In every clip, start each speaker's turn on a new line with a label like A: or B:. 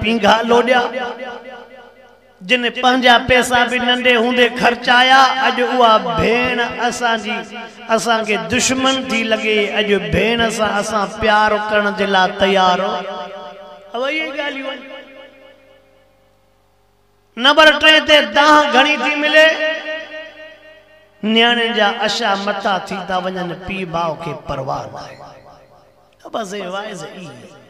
A: پينگھا لوڏيا، جن پنھنجا پيسا به ننڍي هوندي خرچايا، اڄ اها ڀيڻ اسان جي اسان کي دشمن ٿي لڳي، اڄ ڀيڻ سان اسان پيار ڪرڻ جي لا تيار اهو اهي ئي ڳالهيون آهن. نمبر ٽئين تي دانھن گھڻي ٿي ملي، نياڻين جا اشا مٽا ٿي ٿا وڃن، پيء ماء کي پرواهه ناهي. بس اهي واعظ اهي ئي آهن.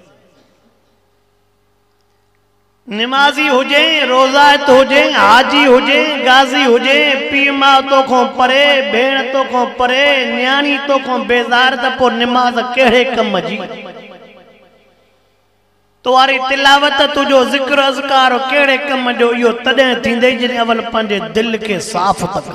A: نمازي هجين، روزائت هجين، حاجي هجين، غازي هجين، پيء ماء توکان پري، ڀيڻ توکان پري، نياڻي توکان بيزار ته پوء نماز ڪهڙي ڪم جي؟ تواري تلاوت، تنهنجو ذڪر اذڪار ڪهڙي ڪم جو؟ اهو تڏهن ٿيندئي جڏهن اول پنهنجي دل کي صاف ته ڪر.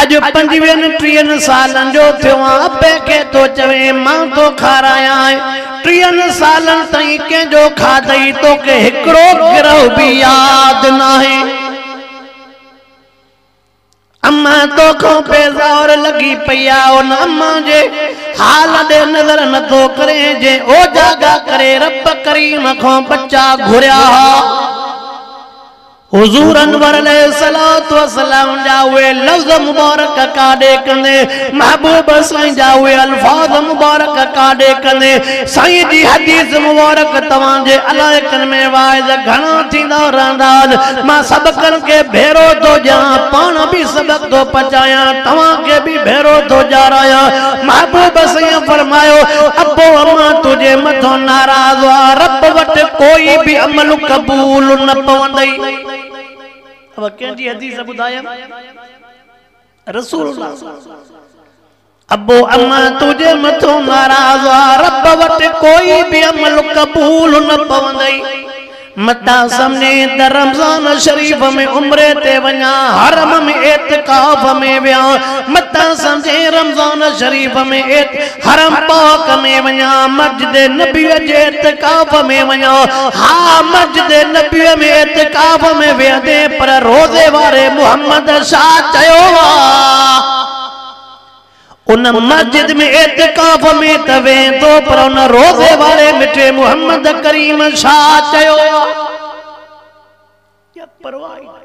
A: اڄ پنجويهن ٽيهن سالن جو ٿيو آن اپي کي ٿو چوين مان ٿو کارايانء، ٽيهن سالن تائين ڪنهن جو کاڌئي توکي هڪڙو گرهه به ياد ناهي. امان توکان بيزار لڳي پئي آ، ان امان جي حال ڏي نظر نٿو ڪرين جنهن اوجاڳا ڪري رب ڪريم کان ٻچا گهريا ها. حضور انور عليه الصلوة والسلام جا اهي لفظ مبارڪ ڪاڏي ڪندي محبوب سائين جا اهي الفاظ مبارڪ ڪاڏي ڪندي سائين جي حديث مبارڪ توهان جي علائقن ۾ واعظ گهڻا ٿيندا رهندا آج مان سڀڪن کي ڀيرو ٿو ڏيان پاڻ به سبق ٿو پچايان توهان کي به ڀيرو ٿو ڏيارايان محبوب سائين فرمايو ابو امان تنهنجي مٿان ناراض آ رب وٽ ڪوئي به عمل قبول قبول نه پوندئي. اهو ڪنهن جي حديث ٻڌايم؟ رسول الله صلي الله عليه وسلم. ابو امه تنهنجي مٿو ناراض آ، رب وٽ ڪوئي به عمل قبول نه پوندئي. متان سمجهين ته رمضان شريف ۾ عمري تي وڃان، حرم ۾ اعتڪاف ۾ ويهان، متان سمجهين رمضان شريف ۾ اعتڪاف حرم پاڪ ۾ وڃان، مسجد نبويء جي اعتڪاف ۾ وڃان، ها مسجد نبويء ۾ اعتڪاف ۾ ويهندين پر روضي واري محمد ڇا چيو آ؟ ان مسجد ۾ اعتڪاف ۾ ته ويهندو پر ان روضي واري مٺي محمد ڪريم ڇا چيو آ؟ ڪي پرواهه ئي ناهي.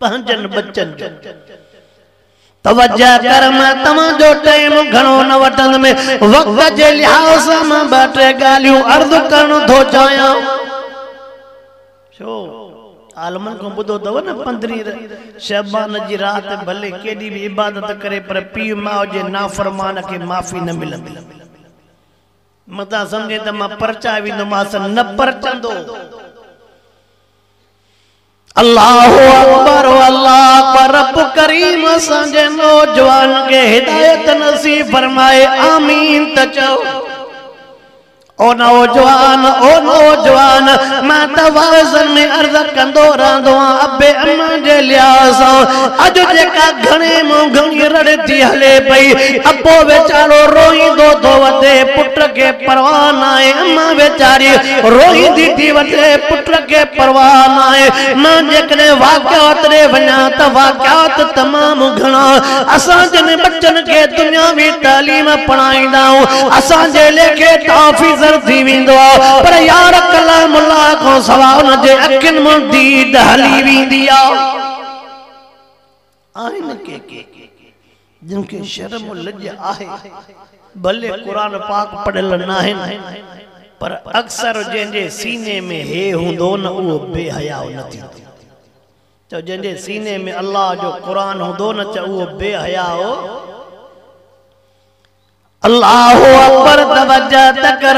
A: پنهنجن ٻچن جو توجه ڪر مان توهان جو ٽائيم گهڻو نه وٺندم وقت جي لحاظ سان مان ٻه ٽي ڳالهيون عرض ڪرڻ ٿو چاهيان ڇو عالمن کان ٻڌو اٿو نه پندرهين شعبان جي رات ڀلي ڪيڏي به عبادت ڪري پر پيء ماء جي نافرمان کي معافي نه ملندي متان سمجهين ته مان پرچائي ويندومانس نه پرچندو. الله اڪبر الله اڪبر رب ڪريم اسان جي نوجوان کي هدايت نصيب فرمائي آمين ته چئو. او نوجوان او نوجوان مان ته وعظن ۾ عرض ڪندو رهندو آهيان ابي امان جي لحاظ سان اڄ جيڪا گهڻي مون گهڻي رڙتي هلي پئي، ابو ويچارو روئيندو ٿو وتي پٽ کي پرواهه ناهي، امان ويچاري روئيندي ٿي وتي پٽ کي پرواهه ناهي. مان جيڪڏهن واقعات ڏي وڃان ته واقعات تمام گهڻا. اسان جن ٻچن کي دنياوي تعليم پڙهائيندائون اسان جي ليکي تافيزر ٿي ويندو آ پر يار ڪلام الله کان سوا ان جي اکين مان ديد هلي ويندي آ آهن ڪي ڪي جن کي شرم لڄ آهي ڀلي قرآن پاڪ پڙهيل ناهن پر اڪثر جنهن جي سيني ۾ هي هوندو نه اهو بي حياء نه ٿيندو چؤ جنهن جي سيني ۾ الله جو قرآن هوندو نه چؤ اهو بي حياء هو. الله اڪبر توجه ته ڪر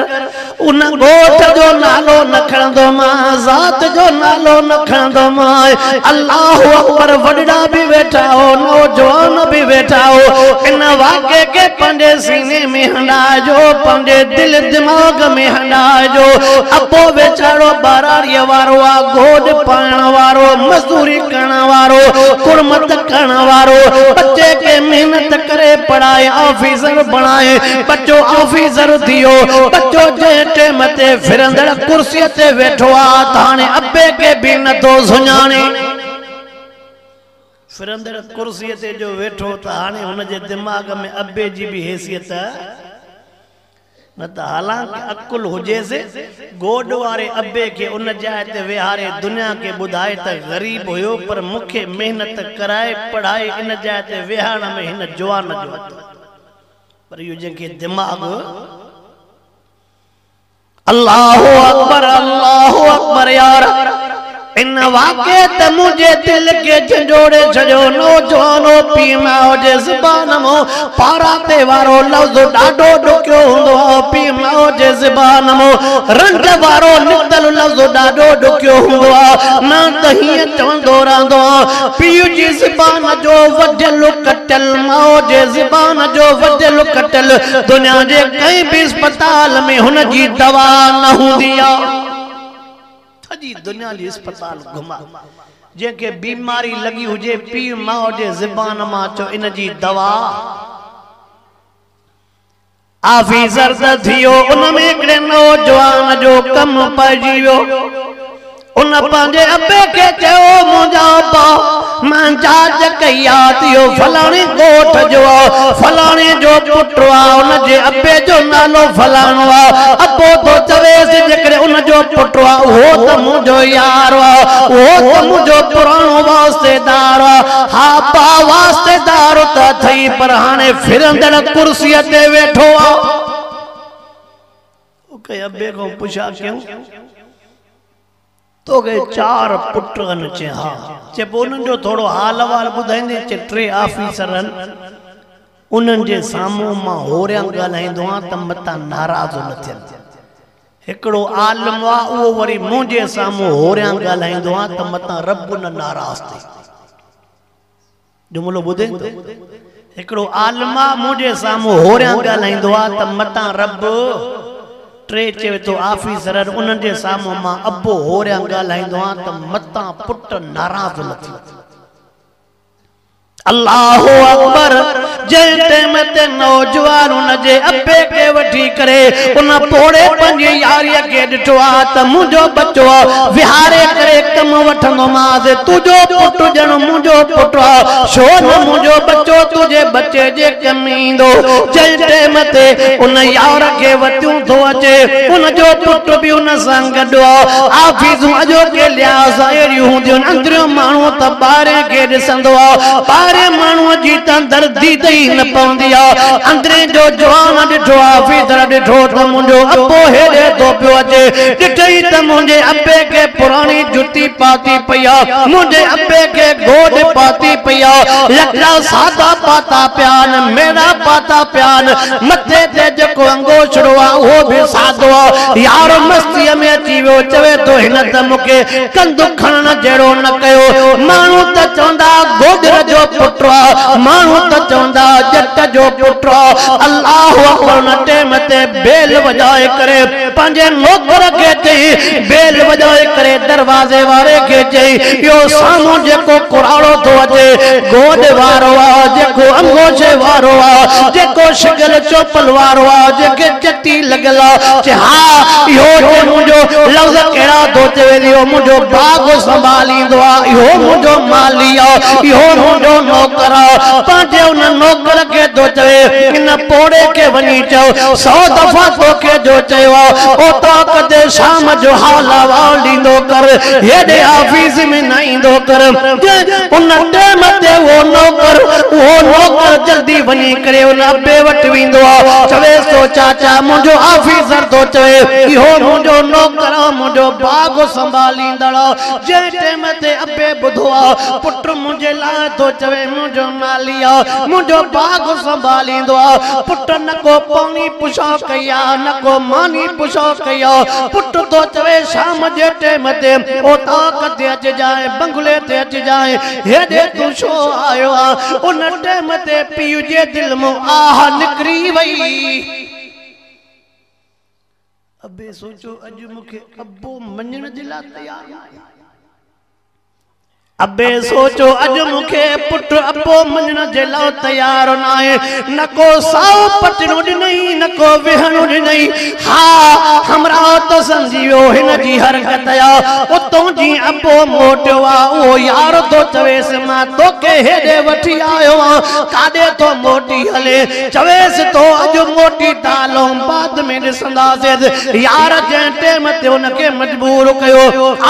A: ان ڳوٺ جو نالو نه کڻندو مان ذات جو نالو نه کڻندو مان الله اڪبر وڏڙا به ويٺا هو نوجوان به ويٺا هو ان واقعي کي پنهنجي سيني ۾ هنڊائجو پنهنجي دل دماغ ۾ هنڊائجو ابو ويچارو ٻهراڙيء وارو آ گوڏ پائڻ وارو مزدوري ڪرڻ وارو ڪڙمٿ ڪرڻ وارو ٻچي کي محنت ڪري پڙهائي آفيسر بڻائي ٻچو آفيسر ٿيو ٻچو جنهن ٽيم تي ڦرندڙ ڪرسي تي ويٺو آ ته هاڻي ابي کي به نه ٿو سڃاڻي. ڦرندڙ ڪرسيء تي جو ويٺو ته هاڻي هن جي دماغ ۾ ابي جي به حيثيت نه ته حالانڪه عقل هجيس، گوڏ واري ابي کي ان جاء تي ويهاري دنيا کي ٻڌائي ته غريب هيو پر مون کي محنت ڪرائي پڙهائي ان جاء تي ويهارڻ ۾ هن جوان جو هٿ هو پر اهو جنهن کي دماغ الله اڪبر الله اڪبر يار ان واقعي ته منهنجي دل کي جهنجهوڙي ڇڏيو نوجوان او پي ماء جي زبان مون پارا تي وارو لفظ ڏاڍو ڏکيو هوندو آ او پي ماء جي زبان مون رنج وارو نڪتل لفظ ڏاڍو ڏکيو هوندو آ مان ته هيئن چوندو رهندو آ پيء جي زبان جو وڍيل ڪٽيل ماء جي زبان جو وڍيل ڪٽيل دنيا جي ڪنهن به اسپتال ۾ هن جي دوا نه هوندي آ. سڄي دنيا جي اسپتال گهماء، جنهن کي بيماري لڳي هجي، پيء ماء جي زبان مان اچو ان جي دوا آفي زرد ٿيو، ان ۾ هڪڙي نوجوان جو ڪم پئجي ويو. ان پنهنجي ابي کي چيو، منهنجا ابا، مان جاچ ڪئي آ ته اهو فلاڻي ڳوٺ جو آ، فلاڻي جو پٽ آ، ان جي ابي جو نالو فلاڻو آ. ابو ٿو چويس، جيڪڏهن ان جو پٽ آ، اهو ته منهنجو يار آ، اهو ته منهنجو پراڻو واسطيدار آ. ها ابا، واسطيدار ته اٿئي، پر هاڻي ڦرندڙ ڪرسيء تي ويٺو آ. ڪنهن ابي کان پڇا ڪيون، توکي چار پٽ هن؟ چيائين ها. چي پوء انهن جو ٿورو حال احوال ٻڌائيندين؟ چي ٽي آفيسر هن، انهن جي سامهون مان هوريان ڳالهائيندو آهيان ته متان ناراض نه ٿين. هڪڙو عالم آ، اهو وري منهنجي سامهون هوريان ڳالهائيندو آهيان ته متان رب نه ناراض ٿئي. جملو ٻڌين ٿو، هڪڙو عالم آ مون جي سامهون هوريان ڳالهائيندو آ ته متان رب ٽي چوي ٿو آفيسرن انهن جي سامهون مان ابو هوريان ڳالهائيندو آ ته متان پٽ ناراض نه ٿيندو. الله اڪبر. جنهن ٽيم تي نوجوان ان جي ابي کي وٺي ڪري ان پوڙهي پنهنجي ياريء کي ڏٺو آ ته منهنجو ٻچو آ، ويهاري ڪري ڪم وٺندومانس، تنهنجو پٽ ڄڻ منهنجو پٽ آ، ڇو نه منهنجو ٻچو تنهنجي ٻچي جي ڪم ايندو، جنهن ٽيم تي ان يار کي وتيون ٿو اچي، ان جو پٽ به ان سان گڏ آ، آفيسون اڄوڪي لحاظ سان اهڙيون هونديون آهن، اندريون ماڻهو ته ٻاهرئين کي ڏسندو آ، ٻاهرئين ماڻهوء جي تان دردي ته ئي نه پوندي آ. اندرين جو جوان ڏٺو آ، فيدر ڏٺو ته منهنجو ابو هيڏي ٿو پيو اچي. ڏٺئي ته منهنجي ابي کي پراڻي جتي پاتي پئي آ. منهنجي ابي کي گوڏ پاتي پئي آ. لڪڙا سادا پاتا پيا آهن، ميڙا پاتا پيا آهن. مٿي تي جيڪو انگوڇڙو آ، اهو به سادو آ. يار مستيء ۾ اچي ويو، چوي ٿو هن ته مون کي ڪنڌ کڻڻ جهڙو نه ڪيو. ماڻهو ته چوندا گوجر جو پٽ آ، ماڻهو ته چوندا ڄٽ جو پٽ آ. الله اڪبر ان ٽيم تي بيل وڄائي ڪري پنهنجي نوڪر کي چيائين، بيل وڄائي ڪري دروازي واري کي چيائين، اهو سامهون جيڪو ڪراڙو ٿو اچي، گوڏ وارو آ، جيڪو انگوڇي وارو آ، جيڪو شڪل چوپل وارو آ، جنهن کي ڪتي لڳل آ چي ها اهو چي منهنجو لفظ ڪهڙا ٿو چوي چي اهو منهنجو باغ سنڀاليندو آ اهو منهنجو مالي آ اهو منهنجو نوڪر آ پنهنجي ان نوڪر کي ٿو چوي ان پوڙهي کي وڃي چئو سو دفعا توکي جو چيو آ اوطاق تي شام جو هال احوال ڏيندو ڪر هيڏي آفيس ۾ نه ايندو ڪر جنهن ان ٽيم تي اهو نوڪر اهو نوڪر جلدي وڃي ڪري ان ابي وٽ ويندو آ چويس ٿو چاچا منهنجو آفيسر ٿو چوي اهو منهنجو نوڪر آ منهنجو باغ سنڀاليندڙ آ جنهن ٽيم تي ابي ٻڌو آ پٽ منهنجي لاء ٿو چوي منهنجو مالي آ منهنجو باغ سنڀاليندو آ پٽ نه ڪو پاڻي پڇا ڪئي آ نه ڪو ماني پڇا ڪئي آ پٽ ٿو چوي شام جي ٽيم تي اوطاق تي اچ جانء، بنگلي تي اچ جانء، هيڏي تون ڇو آيو آهين؟ ان ٽيم تي پيء جي دل مان آهه نڪري وئي. ابي سوچيو، اڄ مون کي ابو مڃڻ جي لاء تيار ناهي. ابي سوچو اڄ مون کي پٽ ابو مڃڻ جي لاء تيار ناهي، نه ڪو سائو پٽڻو ڏنئي نه ڪو ويهڻو ڏنئي. ها همراهه ته سمجهي ويو هن جي حرڪت آ، اتون جيئن ابو موٽيو آ اهو يار ٿو چويس مان توکي هيڏي وٺي آيو آهيان ڪاڏي ٿو موٽي هلين؟ چويس ٿو اڄ موٽي ته آلام آباد ۾ ڏسان. اندازيز يار جنهن ٽيم تي ان کي مجبور ڪيو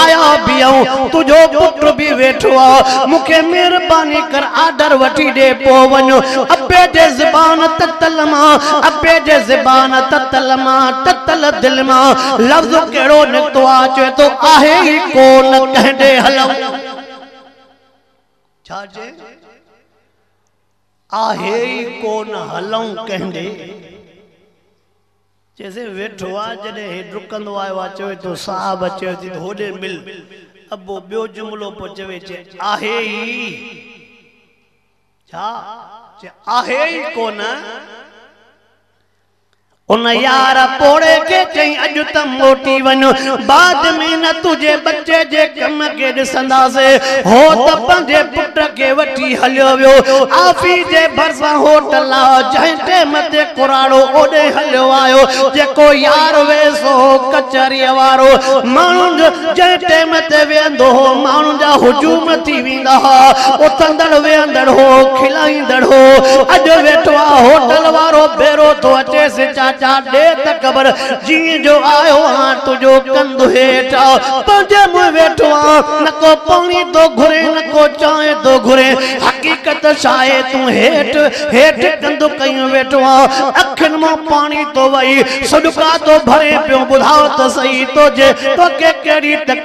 A: آيا بيهون تنهنجو پٽ به ويٺو آ مون کي مهرباني ڪر آرڊر وٺي ڏي پو وڃ ابي جي زبان تتل مان ابي جي زبان تتل مان تتل دل مان لفظ ڪهڙو نڪتو آ چوي ٿو آهي ئي ڪو نه ڪنهن ڏي هلئون ڇا چئي آهي ئي ڪونه هلئون ڪنهن ڏي. چيسين ويٺو آ، جڏهن هي ڊڪندو آيو آ چوي ٿو صاحب چيو ٿي ته هوڏي مل. ابو ٻيو جملو پيو چوي چي آهي ئي ڇا؟ چي آهي ئي ڪونه. ان يار پوڙهي کي چيائين اڄ ته موٽي وڃ، بعد ۾ نه تنهنجي ٻچي جي ڪم کي ڏسنداسي. هو ته پنهنجي پٽ کي وٺي هليو ويو. آفيس جي ڀرسان هوٽل آهي، جنهن ٽيم تي ڪراڙو اوڏي هليو آيو، جيڪو يار ويس هو ڪچهريء وارو. ماڻهن جنهن ٽيم تي ويهندو هو، ماڻهن جا هجوم ٿي ويندا. ڏيندا ھئا، اٿندڙ ويھندڙ ھو، کلائيندڙ ھو، اڄ ويٺو آ ھوٽل وارو ڀيرو ٿو اچيس، چاچا ڏي ته خبر جيئن جو آيو آھان تنھنجو ڪنڌ ھيٺ آ، پنھنجي منھن ويٺو آ، نه ڪو پاڻي ٿو گھري نه ڪو چانھه ٿو گھري، حقيقت ڇا آھي تون ھيٺ ھيٺ ڪنڌ ڪيون ويٺو آ، اکين مان پاڻي ٿو وھي، سڏڪا ٿو ڀرين پيو، ٻڌاء ته سھي توکي ڪھڙي تڪليف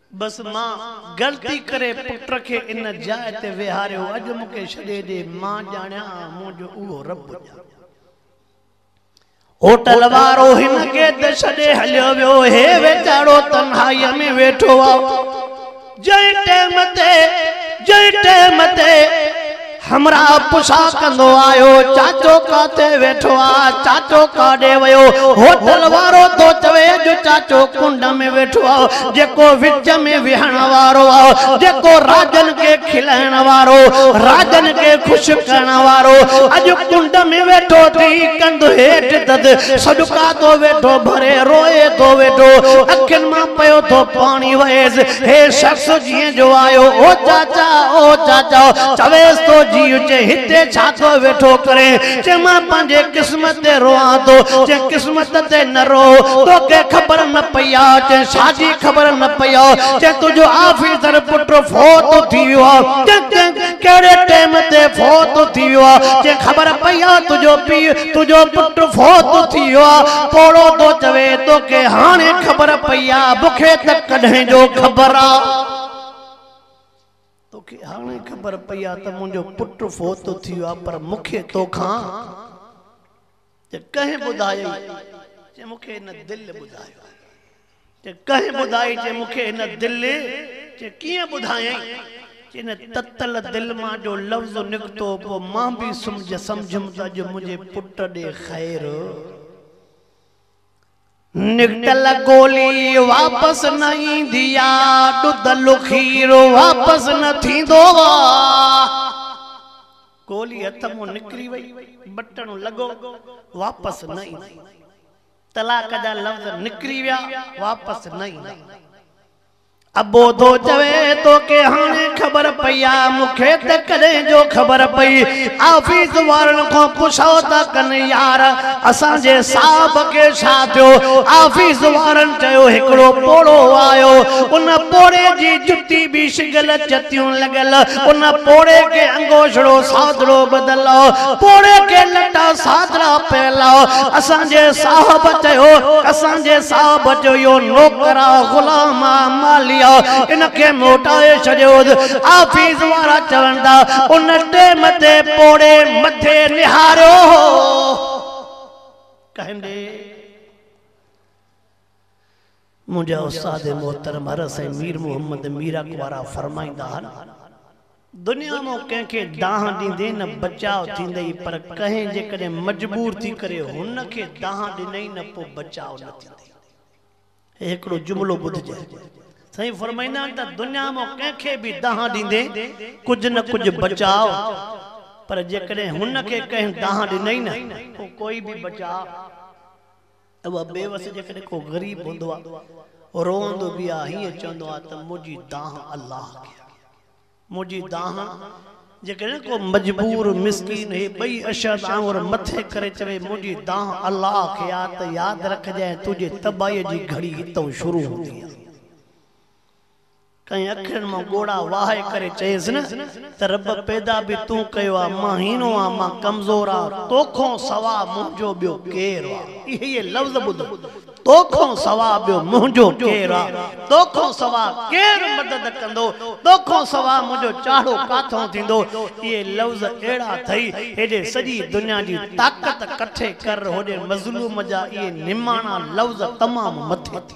A: بس مان غلطي ڪري پٽ کي ان جاء تي ويهاريو اڄ مون کي ڇڏي ڏي مان ڄاڻيان ها مون جو اهو رب ڄاڻي. هوٽل وارو هن کي ته ڇڏي هليو ويو هي ويچارو تنهائي ۾ ويٺو آ جنهن ٽيم تي جنهن ٽيم تي. همراهه پڇا ڪندو آيو، چاچو ڪاٿي ويٺو آ؟ چاچو ڪاڏي ويو؟ هوٽل وارو ٿو چوي جو چاچو ڪنڊ ۾ ويٺو آ، جيڪو وچ ۾ ويهڻ وارو آ، جيڪو راڄن کي کلائڻ وارو، راڄن کي خوش ڪرڻ وارو، اڄ ڪنڊ ۾ ويٺو ٿي ڪنڌ هيٺ دد سڏڪا ٿو ويٺو ڀري، روئي ٿو ويٺو، اکين مان پيو ٿو پاڻي وهيس. هي شخص جيئن جو آيو، او چاچا، او چاچا، چويس ٿو، جيء چي هتي ڇا ٿو ويٺو ڪرين؟ چي مان پنهنجي قسمت تي روئان ٿو. چي قسمت تي نه رو، توکي خبر نه پئي آ. چي ڇا جي خبر نه پئي آ؟ چي تنهنجو آفيسر پٽ فوت ٿي ويو آ. چي ڪهڙي ٽيم تي فوت ٿي ويو آ؟ چي خبر پئي آ تنهنجو پيء تنهنجو پٽ فوت ٿيو آ. پوڙهو ٿو چوي توکي هاڻي خبر پئي آ. مونکي ته ڪڏهن جو خبر آ. توکي هاڻي خبر پئي آ ته منهنجو پٽ فوت ٿيو آ پر مونکي توکان ته ڪنهن ٻڌايو ئي نه. مونکي هن دل ٻڌايو آ. چي ڪنهن ٻڌائي چي مون کي هن دل چي ڪيئن ٻڌايئين چي ان تتل دل مان جو لفظ نڪتو پوء مان به سمجهيم ته اڄ منهنجي پٽ ڏي خير نڪتل گولي واپس نه ايندي آ ڏڌل کير واپس نه ٿيندو آ گولي هٿ مان نڪري وئي بٽڻ لڳو واپس نه ايندي طلاق جا لفظ نڪري ويا واپس نه ايندا. ابو ٿو چوي توکي هاڻي خبر پئي آ مونکي ته ڪڏهن جو خبر پئي آفيس وارن کان پڇو ته ڪن يار اسان جي صاحب کي ڇا ٿيو آفيس وارن چيو هڪڙو پوڙهو آيو ان پوڙهي جي جتي به شگل چتيون لڳل ان پوڙهي کي گوشڙو سادرو بدلو، پوڙهي کي لٽا سادرا پهلاء. اسان جي صاحب چيو، اسان جي صاحب چيو، اهو نوڪر آ، غلام آ، مالي آ، ان کي موٽائي ڇڏيوس. آفيس وارا چون ٿا، ان ٽيم تي پوڙهي مٿي نهاريو هو. ڪنهن ڏي؟ منهنجا استاد محترم عرس ۽ مير محمد ميراڪ وارا فرمائيندا هن، دنيا مون ڪنهن کي دانهن ڏيندين نه بچاء ٿيندئي، پر ڪنهن جيڪڏهن مجبور ٿي ڪري هن کي دانهن ڏنئي نه پوء بچاء نه ٿيندئي. هي هڪڙو جملو ٻڌجي. سائين فرمائيندا آهن ته دنيا مون ڪنهن کي به دانهن ڏيندين ڪجهه نه ڪجهه بچاء، پر جيڪڏهن هن کي ڪنهن دانهن ڏنئي نه پوء ڪوئي به بچاء. اهو بيوس جيڪڏهن ڪو غريب هوندو ها، روئندو به ها، هيئن چوندو ها ته منهنجي دانهن الله کي آهي. منهنجي دانهن جيڪڏهن ڪو مجبور مسڪين هي ٻئي اشهد آڱر مٿي ڪري چوي منهنجي دانهن الله کي آهي ته ياد رکجانء تنهنجي تباهيء جي گهڙي هتئون شروع هوندي آهي. ڪنهن اکرن مان ڳوڙها وهائي ڪري چيس نه ته رب پيدا به تون ڪيو آ، مان هينو آ، مان ڪمزور آ، توکون سوا منهنجو ٻيو ڪير آ؟ اهي ئي لفظ ٻڌو، توکون سوا ٻيو منهنجو ڪير آ؟ توکون سوا ڪير مدد ڪندو؟ توکون سوا منهنجو چاڙهو ڪاٿون ٿيندو؟ اهي لفظ اهڙا اٿئي، هيڏي سڄي دنيا جي طاقت ڪٺي ڪر، هوڏي مظلوم جا اهي نماڻا لفظ تمام مٿي ٿي.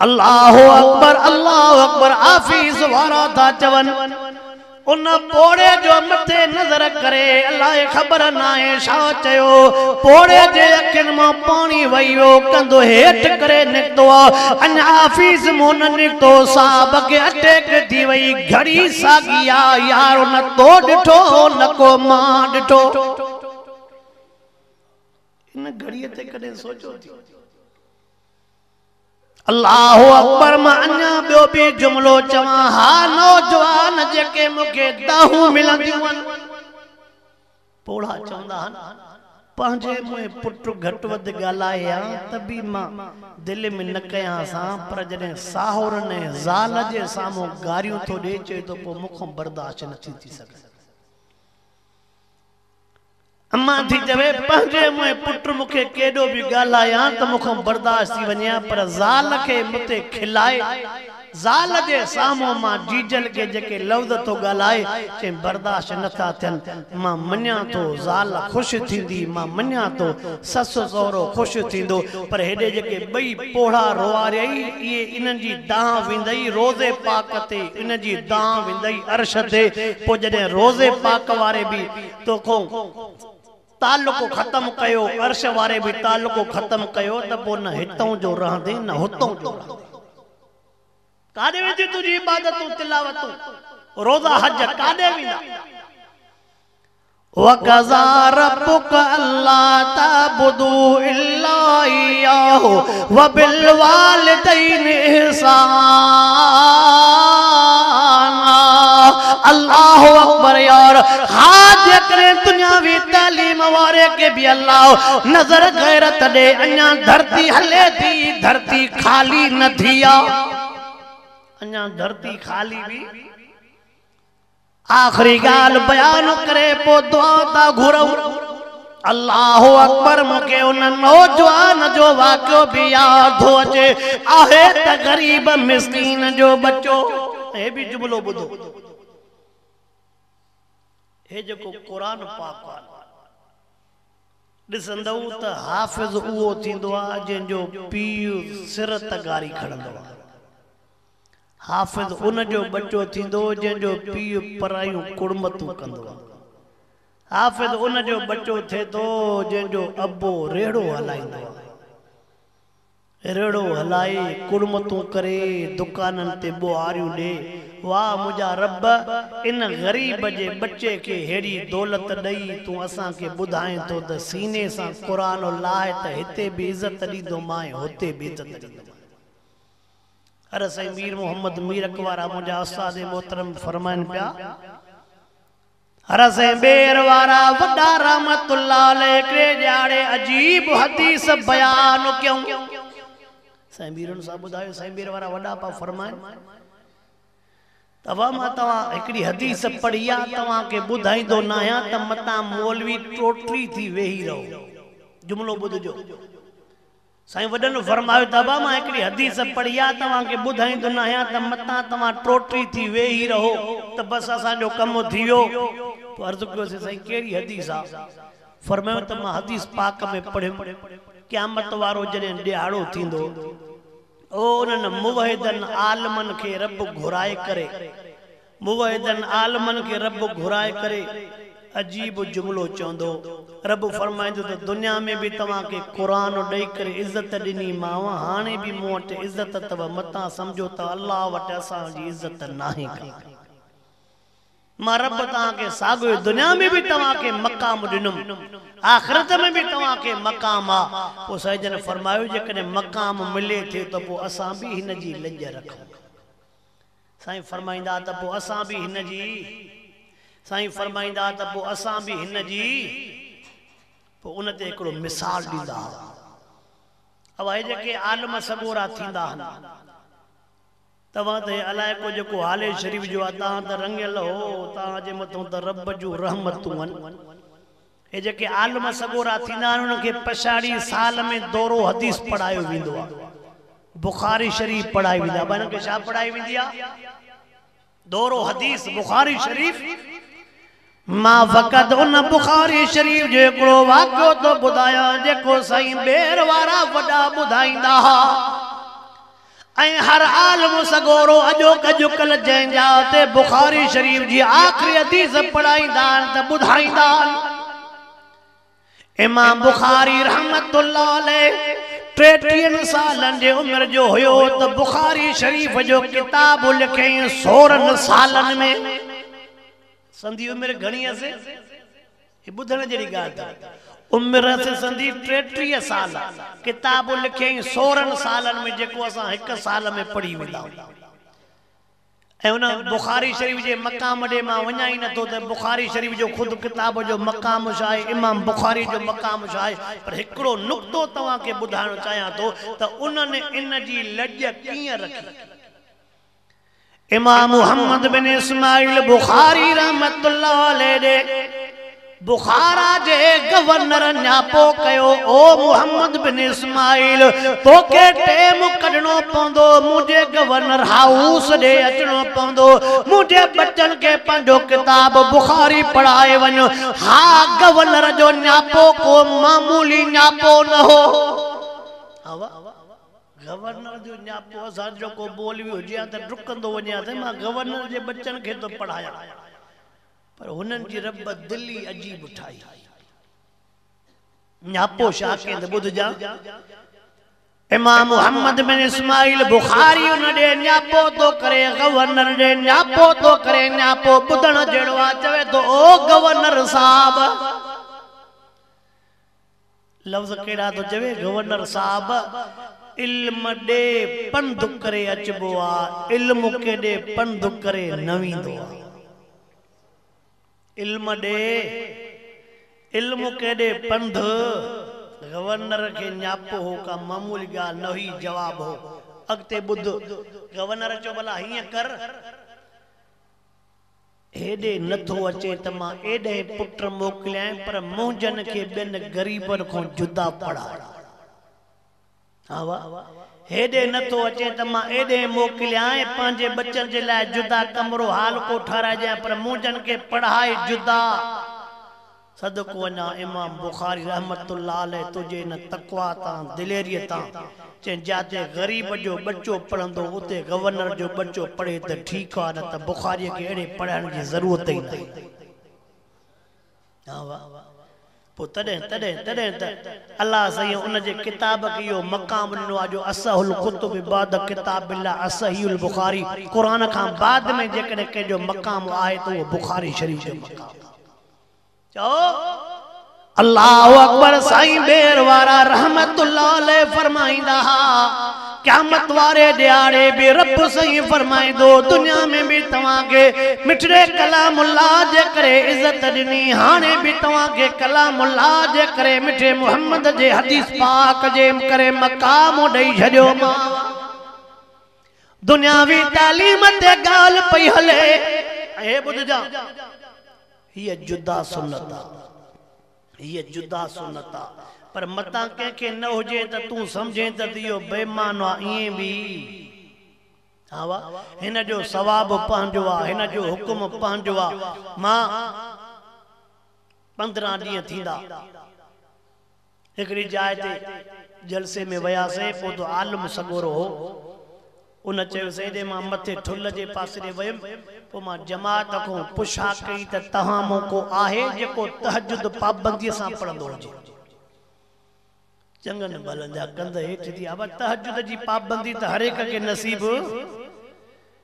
A: الله اڪبر الله اڪبر آفيس وارا ٿا چون ان پوڙهي جو مٿي نظر ڪري الائي خبر ناهي ڇا چيو پوڙهي جي اکين مان پاڻي وهي ويو ڪنڌ هيٺ ڪري نڪتو اڃا آفيس مون نه نڪتو صاحب کي اٽيڪ ٿي وئي گهڙي ساڳي آ يار نه تو ڏٺو نه ڪو مان ڏٺو ان گهڙي تي ڪڏهن سوچيو ٿي الله اڪبر مان اڃا ٻيو به جملو چوان ها نوجوان جيڪي مون کي دانهون ملنديون آهن پوڙها چوندا آهن پنهنجي مون پٽ گهٽ وڌ ڳالهائي ها ته به مان دل ۾ نه ڪيان سان پر جڏهن ساهورن ۽ زال جي سامهون گاريون ٿو ڏي چوي ٿو پوء مون کان برداشت نه ٿي ٿي سگهي. امان ٿي چوي، پنهنجي منهن پٽ مون کي ڪيڏو به ڳالهايان ته مون کان برداشت ٿي وڃي ها پر زال کي مون تي کل آهي. زال جي سامهون مان جيجل کي جيڪي لفظ ٿو ڳالهائي، چين برداشت نه ٿا ٿين. مان مڃان ٿو زال خوش ٿيندي، مان مڃان ٿو سس سهرو خوش ٿيندو پر هيڏي جيڪي ٻئي. پوڙها روئاريئي، اهي انهن جي دانهن ويندئي روضي پاڪ تي، انهن جي دانهن ويندئي عرش تي، پوء جڏهن روضي پاڪ واري به تو کان تعلق ختم ڪيو، عرش واري به تعلق ختم ڪيو ته پوء نه هتئون جو رهندين نه هتئون جو رهندين. ڪاڏي وينديون تنهنجون عبادتون، تلاوتون، روزا، حج، ڪاڏي ويندا؟ وقضا ربک الا تعبدو الا اياه وبالوالدين احسانا الله اڪبر يار حاج اڪري دنياوي تعليم واري کي به الله نظر غيرت ڏي اڃا ڌرتي هلي ٿي ڌرتي خالي نه ٿي آ اڃا ڌرتي خالي به آخري ڳالهه بيان ڪري پوء دعا ٿا گهرون. الله اڪبر مون کي ان نوجوان جو واقعو به ياد ٿو اچي آهي ته غريب مسڪين جو ٻچو هي به جملو ٻڌو هي جيڪو قرآن پاڪ ڏسندؤ ته حافظ اهو ٿيندو آهي جنهن جو پيء سر تغاري کڻندو آهي. حافظ ان جو ٻچو ٿيندو جنهن جو پيء پرايون ڪڙمتون ڪندو آهي. حافظ ان جو ٻچو ٿئي ٿو جنهن جو ابو ريڙهو هلائيندو آهي. ريڙهو هلائي، ڪڙمتون ڪري، دڪانن تي ٻوهاريون ڏئي. واهه منهنجا رب! ان غريب جي ٻچي کي ههڙي دولت ڏئي تون اسان کي ٻڌائين ٿو ته سيني سان قرآن الله ته هتي به عزت ڏيندومانء هتي به عزت ڏيندومانء. عرض سائين مير محمد مير اڪوارا منهنجا استاد محترم فرمائن پيا عرض سائين ٻير وارا وڏا رحمت الله عليه هڪڙي ڏيهاڙي عجيب حديث بيان ڪيون سائين ميرن صاحب ٻڌايو سائين ٻير وارا وڏا پا فرمائن توهان مان توهان هڪڙي حديث پڙهي آ توهان کي ٻڌائيندو نه آهيان ته متان مولوي ٽوٽري ٿي ويهي رهو جملو ٻڌجو سائين وڏن فرمايو ته ابا مان هڪڙي حديث پڙهي آ توهان کي ٻڌائيندن آهيان ته متان توهان ٽوٽي ٿي ويهي رهو ته بس اسان جو ڪم ٿي ويو تو عرض ڪيو سين سائين ڪهڙي حديث آ فرمايو ته مان حديث پاڪ ۾ پڙهيم قيامت وارو جڏهن ڏيهاڙو ٿيندو او انهن موحدن عالمن کي رب گهرائي ڪري موحدن عالمن کي رب گهرائي ڪري عجيب جملو چوندو، رب فرمائيندو ته دنيا ۾ به توهان کي قرآن ڏئي ڪري عزت ڏني مانء، هاڻي به مون وٽ عزت اٿو، متان سمجهو ته الله وٽ اسان جي عزت ناهي ڪا. مان رب توهان کي ساڳيو ئي دنيا ۾ به توهان کي مقام ڏنم، آخرت ۾ به توهان کي مقام آ. پوء سيدجن فرمايو جيڪڏهن مقام ملي ٿي ته پوء اسان به هن جي لڄ رکون. سائين فرمائيندا ته پوء اسان به هن جي سائين فرمائيندا ته پوء اسان به هن جي پوء ان تي هڪڙو مثال ڏيندا هئا اهي جيڪي عالم سڳورا ٿيندا هن توهان ته هي علائقو جيڪو هالي شريف جو آهي تان ته رڱيل هو تان جي مٿون ته رب جون رحمتون هن اهي جيڪي عالم سڳورا ٿيندا آهن انهن کي پڇاڙي سال ۾ دورو حديث پڙهايو ويندو آهي بخاري شريف پڙهائي ويندي آهي انهن کي ڇا پڙهائي ويندي آهي دورو حديث بخاري شريف ماوقت ان بخاري شريف جو هڪڙو واقعو ٿو ٻڌايان جيڪو سائين ٻير وارا وڏا ٻڌائيندا ها. ۽ هر عالم سڳورو اڄوڪ اڄڪلهه جنهن جا تي بخاري شريف جي آخري حديث پڙهائيندا آهن ته ٻڌائيندا آهن امام بخاري رحمت الله عليه ٽيٽيهن سالن جي عمر جو هيو ته بخاري شريف جو ڪتاب لکيائين سورن سالن ۾ سندي عمر گهڻي هئسي هي ٻڌڻ جهڙي ڳالهه ته عمر سندي ٽيٽيهه سال آ. ڪتاب لکيائين سورهن سالن ۾ جيڪو اسان هڪ سال ۾ پڙهي ويندا آهيون. ۽ ان بخاري شريف جي مقام ڏي مان وڃان ئي نٿو ته بخاري شريف جو خود ڪتاب جو مقام ڇا آهي امام بخاري جو مقام ڇا آهي پر هڪڙو نقطو توهان کي ٻڌائڻ چاهيان ٿو ته انهن ان جي لڄ ڪيئن رکي. امام محمد بن اسماعيل بخاري رحمة الله عليه ڏي بخارا جي گورنر نياپو ڪيو او محمد بن اسماعيل توکي ٽيم ڪڍڻو پوندو منهنجي گورنر هائوس ڏي اچڻو پوندو منهنجي ٻچن کي پنهنجو ڪتاب بخاري پڙهائي وڃ ها گورنر جو نياپو ڪو معمولي نياپو نه هو گورنر جو ڃاپو اسان جو ڪو مولوي هجي ها ته ڊڪندو وڃي ها ته مان گورنر جي ٻچن کي ٿو پڙهايان پر هنن جي رب دل ئي عجيب ٺاهي هئي. ڃاپو شاهه ڪين ته ٻڌجان. امام محمد بن اسماعيل بخاري ان ڏي ڃاپو ٿو ڪري، گورنر ڏي ڃاپو ٿو ڪري، ڃاپو ٻڌڻ جهڙو آهي، چوي ٿو، او گورنر صاحب! لفظ ڪهڙا ٿو چوي گورنر صاحب علم ڏي پنڌ ڪري اچبو آ علم ڪيڏي پنڌ ڪري نه ويندو آ علم ڏي علم ڪيڏي پنڌ گورنر کي نياپو هو ڪا معمولي ڳالهه نه هئي جواب هو اڳتي ٻڌ گورنر چيو ڀلا هيئن ڪر هيڏي نه ٿو اچي ته مان ايڏهن پٽ موڪليائين پر منهنجن کي ٻين غريبن کان جدا پڙهايو. ها وا، هيڏي نه ٿو اچي ته مان ايڏهن موڪليائين پنهنجي ٻچن جي لاء جدا ڪمرو هال ڪو ٺهرائجيان پر منهنجن کي پڙهائي جدا. صدقو اڃا امام بخاري رحمة الله عليه تنهنجي ان تقويٰ تان، دليريء تان، چين جاتي غريب جو ٻچو پڙهندو اتي گورنر جو ٻچو پڙهي ته ٺيڪ آ نه ته بخاريء کي اهڙي پڙهائڻ جي ضرورت ئي ناهي. ها واء پوء تڏهن تڏهن تڏهن ته الله سائين ان جي ڪتاب کي اهو مقام ڏنو آ جو اصح الڪتب بعد ڪتاب الله اصحيح البخاري قرآن کان بعد ۾ جيڪڏهن ڪنهن جو مقام آهي ته اهو بخاري شريف جو مقام آ. چئو الله اڪبر سائين ٻير وارا رحمت الله عليه فرمائيندا ها قيامت واري ڏياڙي به رب سائين فرمائيندو دنيا ۾ به توهان کي مٺڙي ڪلام الله جي ڪري عزت ڏني هاڻي به توهان کي ڪلام الله جي ڪري مٺي محمد جي حديث پاڪ جي ڪري مقام ڏئي ڇڏيومانو دنياوي تعليم تي ڳالهه پئي هلي ۽ هي ٻڌجان هيء جدا سنت آ هيء جدا سنت آ پر متان ڪنهن کي نه هجي ته تون سمجهين ته اهو بي معنو آ ائين به ها وا هن جو ثواب پنهنجو آ هن جو حڪم پنهنجو آ مان پندرهن ڏينهن ٿيندا هڪڙي جاء تي جلسي ۾ وياسين، پوء ته عالم سڳورو هو. ان چيو، سيدي مان مٿي ٺلهه جي پاسيري ويم، پوء مان جماعت کان پڇا ڪئي ته توهان مان ڪو آهي جيڪو تهجد پابنديء سان پڙهندو هجي؟ چڱن ڀلن جا ڪنڌ هيٺ ٿي آيا، تهجد جي پابندي ته هر هڪ کي نصيب.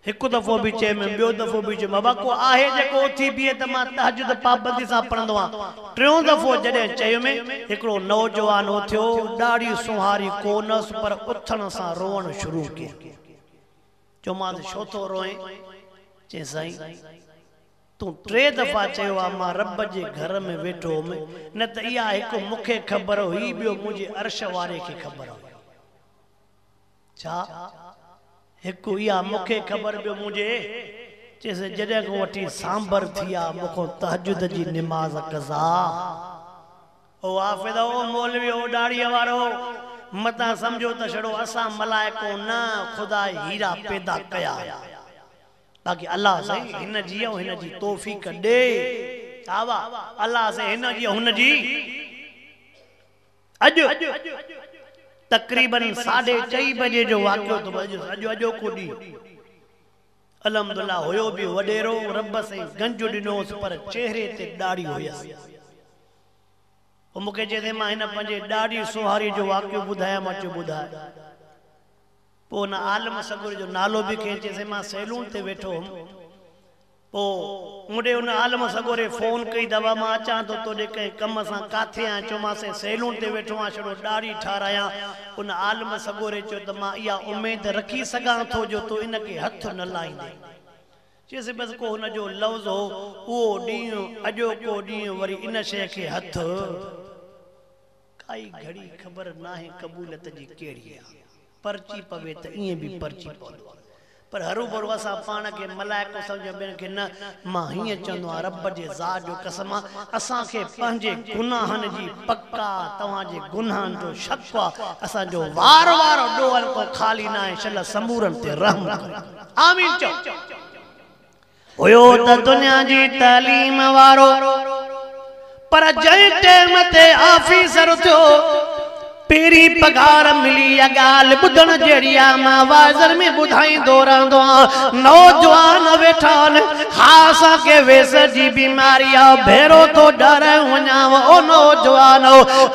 A: هڪ دفعو به چيم، ٻيو دفعو به چيم، ابا ڪو آهي جيڪو اٿي بيهي ته مان تهجد پابندي سان پڙهندو آهيان. ٽيون دفعو جڏهن چيم، هڪڙو نوجوان اٿيو، ڏاڙهي سونهاري ڪونهس پر اٿڻ سان روئڻ شروع ڪيائين. چيومانس ڇو ٿو روئين؟ چيائين سائين! تون ٽي دفعا چيو آهي مان رب جي گهر ۾ ويٺو هوم، نه ته اها هڪ مون کي خبر هئي ٻيو منهنجي عرش واري کي خبر هئي. ڇا؟ هڪ اها مون کي خبر ٻيو منهنجي چيس جڏهن کان وٺي سانڀر ٿي آ مون کان تهجد جي نماز قضا او حافظ او مولوي او ڏاڙهيء وارو متان سمجهو ته ڇڙو اسان ملائڪون نه خدا هيرا پيدا ڪيا آهن باقي الله سائين هن جي ۽ هن جي توفيق ڏي ڇا واه الله سائين هن جي ۽ هن جي. اڄ تقريبن ساڍي چئي بجي جو واقعو ٿو اڄ اڄ اڄوڪو ڏينهن الحمدالله هيو به وڏيرو رب سائين گنج ڏنو هوس پر چهري تي ڏاڙهي هيس پوء مون کي چيسين مان هن پنهنجي ڏاڙهي سونهاري جو واقعو ٻڌايان مان چيو ٻڌاء پوء ان عالم سڳوري جو نالو به کنئين چيسين مان سيلون تي ويٺو هوم پوء مون ڏي ان عالم سڳوري فون ڪئي ته ابا مان اچان ٿو توڏي ڪنهن ڪم سان ڪاٿي آهين چومانسين سيلون تي ويٺو آهيان شروع ڏاڙهي ٺارايان ان عالم سڳوري چيو ته مان اها اميد رکي سگهان ٿو جو تون ان کي هٿ نه لائيندين چيس بس ڪو هن جو لفظ هو اهو ڏينهن اڄوڪو ڏينهن وري ان شيء کي هٿ ڪائي گهڙي خبر ناهي قبوليت جي ڪهڙي آ. پرچي پوي ته ائين به پرچي پوندو آ. پر هروڀرو اسان پاڻ کي ملائڪو سمجهون ٻين کي نه. مان هيئن چوندو آهيان رب جي ذات جو قسم آ اسان کي پنهنجي گناهن جي پڪ آ توهان جي گناهن جو شڪ آ. اسان جو وار وارو ڏوهه ڪو خالي ناهي شل سمورن تي رحم ڪر آمين چئو. هيو ته دنيا جي تعليم وارو پر جنهن ٽيم تي آفيسر ٿيو پهرين پگهار ملي اها ڳالهه ٻڌڻ جهڙي آهي مان واعظن ۾ ٻڌائيندو رهندو آهيان نوجوان ويٺا آهن ها اسان کي ويسر جي بيماري آهي ڀيرو ٿو ڏهرائيون وڃانء او نوجوانو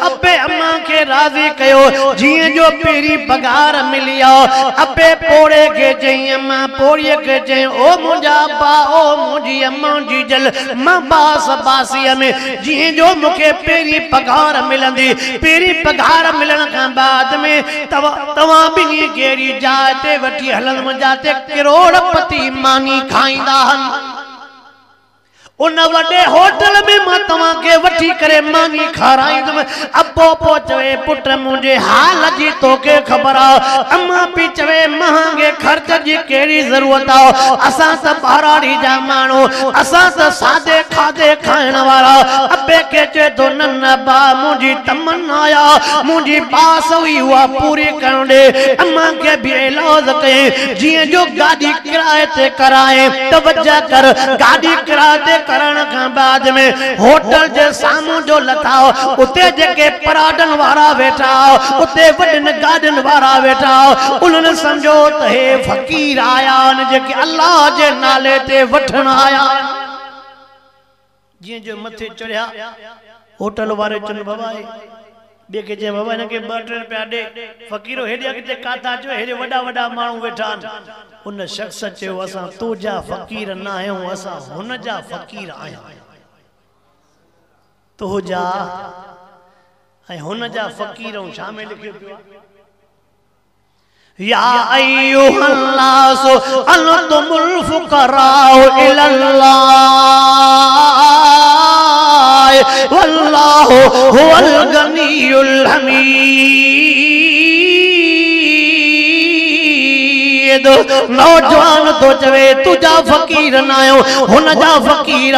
A: ابي امان کي راضي ڪيو جيئن جو پهرين پگهار ملي آيا، ابي پوڙهي کي چيائين، اما پوڙهيء کي چيائين، او منهنجا ابا، او منهنجي اما جي جل، مان باس باسيء ۾ جيئين جو مون کي پهرين پگهار ملندي، پهرين پگهار ملڻ کان بعد ۾ توهان ٻنهي کي اهڙي جاء تي وٺي هلندم جاتي ڪروڙ پتي ماني کائيندا هن. ان وڏي هوٽل ۾ مان توهان کي وٺي ڪري ماني کارايندم. ابو پو چوي، پٽ منهنجي حال جي توکي خبر آ. اما پي چوي، مهانگي خرچ جي ڪهڙي ضرورت آ. اسان ته ٻهراڙي جا ماڻهو، اسان ته سادي کاڌي کائڻ وارا. ابي کي چوي ٿو، نه نه ٻا منهنجي تمنا آ، منهنجي آس هئي اها پوري ڪرڻ ڏي. اما کي به ايلاز ڪيائين، جيئن جو گاڏي ڪرايي تي ڪرائي توجه ڪر گاڏي ڪرايي تي ڪرڻ کان بعد ۾ هوٽل جي سامهون جو لٿاء اتي جيڪي پراٽن وارا ويٺا اتي وڏين گاڏين وارا ويٺا انهن سمجهيو ته هي فقير آيا آهن جيڪي الله جي نالي تي وٺڻ آيا آهن جيئن جو مٿي چڙهيا، هوٽل واري چن بوائي ٻئي کي چيائين، بابا هن کي ٻه ٽي رپيا ڏي. فقيرو هيڏي اڳتي ڪاٿان اچيو آهين، هيڏي وڏا وڏا ماڻهو ويٺا آهن. ان شخص چيو، اسان تو جا فقير نه آهيون، اسان هن جا فقير آهيون. تو جا ۽ هن جا فقير ۽ شامي لکيو پيو آهي. يا ايها الناس انتم الفقراء الى الله والله هو الغني الحميد نوجوان تو چوي تجا فقير نه آيو هن جا فقير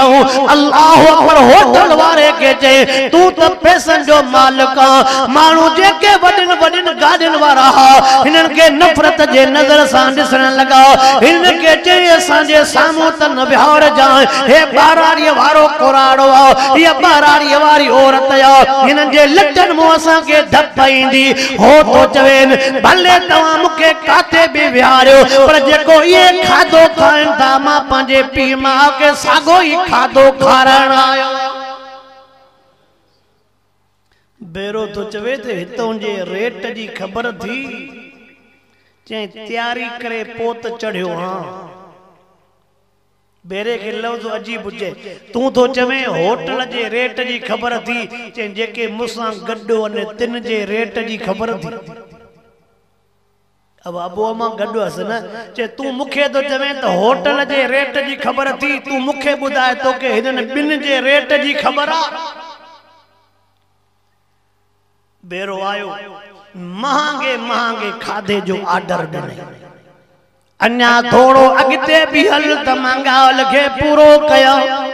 A: الله اڪبر هوٽل واري کي چي تو ته پيسن جو مالڪ ماڻهو جيڪي وڏين وڏين گاڏين وارا ها، هنن کي نفرت جي نظر سان ڏسڻ لڳا. هن کي چيائين، اسان جي سامهون ته نه ويهارجانء، هي ٻهراڙيء وارو ڪوراڙو آ، هيء ٻهراڙيء واري عورت آ، هنن جي لٽن مون اسان کي ڌپ ايندي. هو ٿو چوين، ڀلي توهان مون کي ڪاٿي به ويهاريو، پر جيڪو اهي کاڌو کائن ٿا، مان پنهنجي پيء ماء کي ساڳيو ئي کاڌو کارائڻ آيو آهيان. ڀيرو ٿو چوي ته هتون جي ريٽ جي خبر ٿي، چيائين تياري ڪري پوء ته چڙهيو هان. ڀيري کي لفظ عجيب پچي، تون ٿو چوين هوٽل جي ريٽ جي خبر ٿي؟ چيائين جيڪي مون سان گڏ هئن تن جي ريٽ جي خبر ٿي. اهو ابو امان گڏ هئس نه، چي تون مون کي ٿو چوين ته هوٽل جي ريٽ جي خبر اٿئي، تون مون کي ٻڌاء توکي هنن ٻن جي ريٽ جي خبر آ؟ ڀيرو آيو، مهانگي مهانگي کاڌي جو آرڊر ڏنائين. اڃا ٿورو اڳتي به هل ته مانگال کي پورو ڪيائون.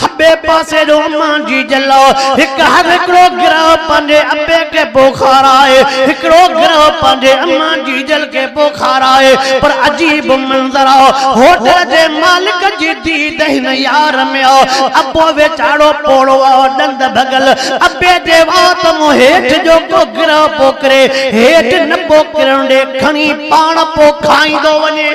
A: کٻي پاسي جو امان جي جلو هڪ هر هڪڙو گروهه پنهنجي ابي کي پوکارائي هڪڙو گروهه پنهنجي امان جي جل کي پوکارائي پر عجيب منظر هو هوٽل جي مالڪ جي ديد هن يار ۾ هو ابو ويچارو پوڙهو هو ڏند ڀڳل ابي جي وات مون هيٺ جو ڪو گروهه پوکري هيٺ نه پوکرڻ ڏي کڻي پاڻ پوکائيندو وڃي.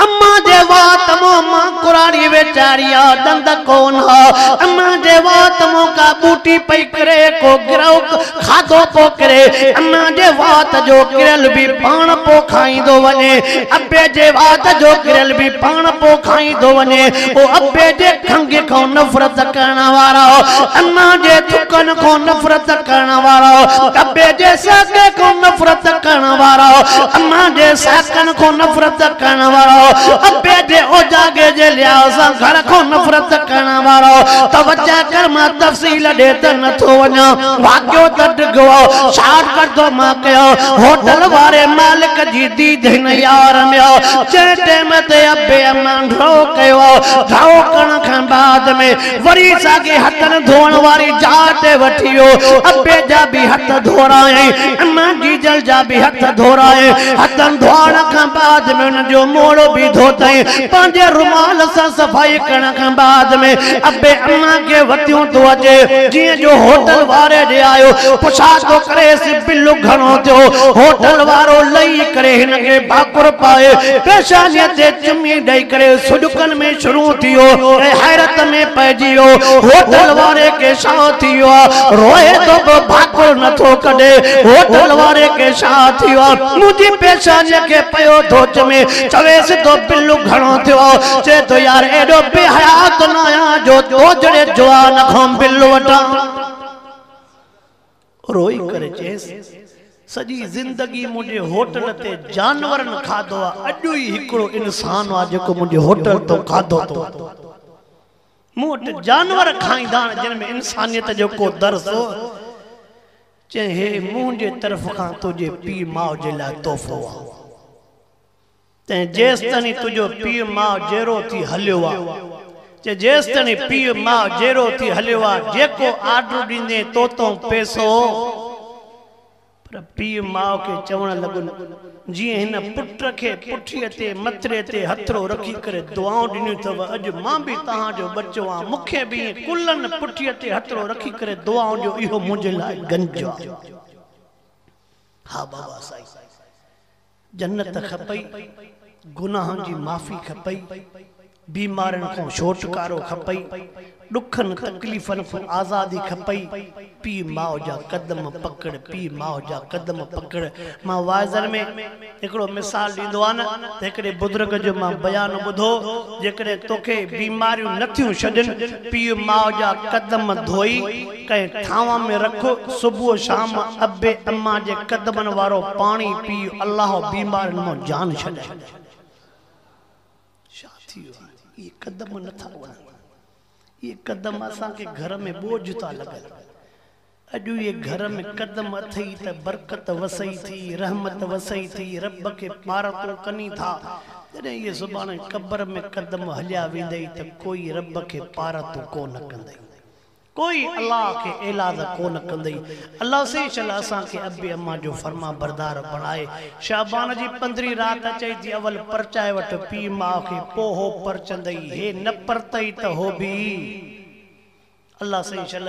A: اما جي وات مون مان ڪراڙي ويچاري آ ڏند ڪون ها اما جي وات مون ڪا ٻوٽي پئي ڪري ڪو گرهو کاڌو پو ڪري اما جي وات جو ڪريل به پاڻ پو کائيندو وڃي ابي جي وات جو ڪريل به پاڻ پو کائيندو وڃي پوء ابي جي کنگهي کان نفرت ڪرڻ وارا، انا جي ٿڪن کان نفرت ڪرڻ وارا، ابي جي ساڪي کان نفرت ڪرڻ وارا، انا جي ساڪن کان نفرت ڪرڻ وارا، ابي جي اوجاڳي جي لحاظ سان گهر کان نفرت ڪرڻ وارا، توجه ڪر مان تفصيل ڏي ته نه ٿو وڃان، واقعو ته ڊگهو آ، شارٽ ڪٽ ٿو مان ڪيان، هوٽل واري مالڪ جي ديد هن يار ۾ آ، جنهن ٽيم تي ابي انا، گهڻو ڪيو گهڻو ڪرڻ کان بعد ۾ وري ساڳي هٿن ڌوئڻ واري جاء تي وٺي ويو ابي جا به هٿ ڌورائين اما جيجل جا به هٿ ڌورائين هٿن ڌوئڻ کان بعد ۾ انهن جو موڙو به ڌوتائين پنهنجي رومال سان صفائي ڪرڻ کان بعد ۾ ابي اما کي وتيون ٿو اچي جيئن جو هوٽل واري ڏي آيو پڇا ٿو ڪريس بل گهڻو ٿيو، هوٽل وارو لهي ڪري هن کي ڀاڪر پائي پيشانيء تي چمي ڏئي ڪري سڏڪن ۾ شروع ٿي ويو ۽ حيرت ۾ پئجي ويو. هوٽل واري کي شا ٿي ويو آ، روئي ٿو به ڀاڪر نه ٿو ڪڍي. هوٽل واري کي شا ٿي ويو آ، منهنجي پيشانيء کي پيو ٿو چمي. چويس ٿو بل گهڻو ٿيو آ. چئي ٿو يار ايڏو بي حياء ته نه آهيان جو تو جهڙي جوان کان بل وٺان. روئي ڪري چيس، سڄي زندگي منهنجي هوٽل تي جانورن کاڌو آ، اڄ ئي هڪڙو انسان آ جيڪو منهنجي هوٽل تون کاڌو ٿو وٺي. مون وٽ جانور کائيندا آهن جن ۾ انسانيت جو ڪو درس هو. چيائين، هي منهنجي طرف کان تنهنجي پيء ماء جي لاء تحفو آ. تنهن جيستڻي تنهنجو پيء ماء جيرو ٿي هليو آ چي جيستڻي پيء ماء جيرو ٿي هليو آ جيڪو آرڊر ڏيندين توتون پيسو پر پيء ماء کي چوڻ لڳن جيئن هن پٽ کي پٺيء تي مٿري تي هٿڙو رکي ڪري دعائون ڏنيون ٿو اڄ مان به توهان جو ٻچو آ مون کي به ائين ڪلهن پٺيء تي هٿڙو رکي ڪري دعائون ڏيو اهو منهنجي لاء گنج آ ها بابا سائين جنت کپئي، گناهن جي معافي کپئي، بيمارين کان ڇوٽڪارو کپئي، ڏکن تڪليفن کان آزادي کپئي، پيء ماء جا قدم پڪڙ، پيء ماء جا قدم پڪڙ، مان واعظن ۾ هڪڙو مثال ڏيندو آهيان ته هڪڙي بزرگ جو مان بيان ٻڌو، جيڪڏهن توکي بيماريون نه ٿيون ڇڏين، پيء ماء جا قدم ڌوئي، ڪنهن ٿانو ۾ رک، صبح و شام ابي امان جي قدمن وارو پاڻي پي، الله بيمارين مان جان ڇڏائي. ڇا ٿي ويو آهي؟ اهي قدم نه ٿا وڻن. اهي قدم اسان کي گهر ۾ ٻوجهه ٿا لڳن. اڄ اهي گهر ۾ قدم اٿئي ته برڪت وسئي ٿي، رحمت وسئي ٿي، رب کي پارتو ڪني ٿا. جڏهن اهي سڀاڻي قبر ۾ قدم هليا ويندئي ته ڪوئي رب کي پارتو ڪو نه ڪندئي. ڪوئي الله کي ايلاز ڪونه ڪندئي الله سين شل اسان کي ابي امان جو فرمان بردار بڻائي شعبان جي پندرهين رات اچئي ٿي اول پرچائي وٺ پيء ماء کي پو هو پرچندئي هي نه پرتئي ته هو به الله سين شل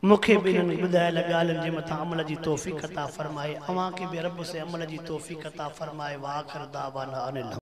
A: مون کي به انهن ٻڌايل ڳالهين جي مٿان عمل جي توفيق عطا فرمائي اوهان کي به رب سين عمل جي توفيق عطا فرمائي واخر دعوانا ان الحمد.